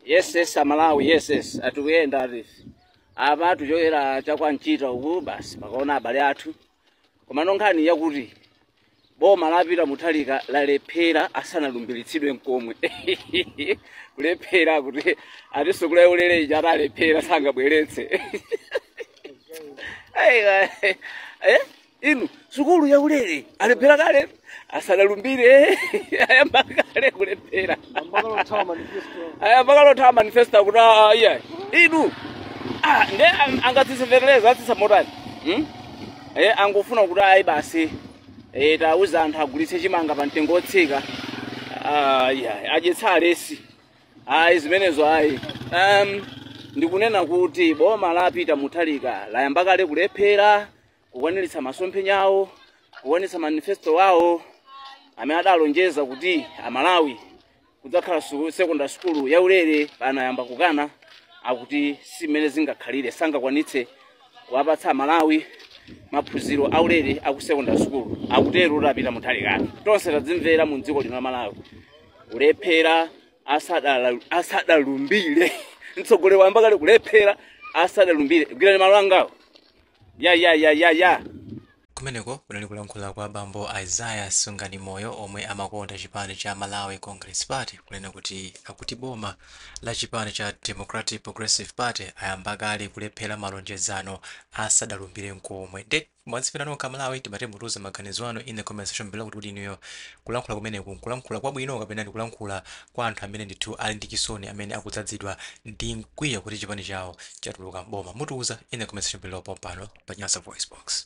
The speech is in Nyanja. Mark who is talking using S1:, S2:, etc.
S1: yes yes amalawi yes yes atikuyenda ati apa tichokera cha kwa nchita uku basi pakaona abale athu komano nkhani yakuti boma la Peter Mutharika lalephera asanalumbiritsidwe nkomwe kulephera kuti ati sukulu ya ulere ija ati alephera sangabweretse Ai, ai, eh? inu sukulu ya ulere alephera kale asanalumbire ayamba kale kulephera ayamba kale othawa manifesto. ayamba kale kuthawa manifesto kuti ah, iya inu ah, nde ang- angatsitse feteleza atsitsa motani hmm? eh, angofuna kuti ayi basi eh, tauza anthu agulitse chimanga pa mtengo wotsika ah, iya adyetse alesi ayi zimenezo ayi um, ndikunena kuti boma la Peter Mutharika layamba kale kulephera kukwaniritsa masomphenya awo kukwaniritsa manifesto wawo amene adalonjeza kuti amalawi kudzakhala su- secondary school yaulere pano ayamba kukana akuti si mmene zingakhalire sangakwanitse kuwapatsa amalawi maphunziro aulere aku secondary school akutero a Peter Mutharika tonse tadzimvera mu dziko lino la malawi kulephera asadala- asadalumbire mtsogoleri wayamba kale kulephera asadalumbire gwirani malo angawo ya ya ya ya
S2: ya kumeneko kunali kulankhula kwa bambo Isaiah Sunganimoyo omwe amakonda chipani cha malawi congress party kunena kuti akuti boma la chipani cha democratic progressive party ayamba kale kulephera malonjezano asadalumbire nkomwe nde mwazimvera nokha malawi timati mutiuze maganizo anu in the comment section below kuti kuti inuyo kulankhula kumeneko nkulankhula kwabwino kapena ndikulankhula kwa anthu amene ndithu ali ndi chisoni amene akudzadzidwa ndi mkwiyo kuti chipani chawo chatuluka m'boma. Mutiuze in the comment section below pompano pa Nyasa VoiceBox.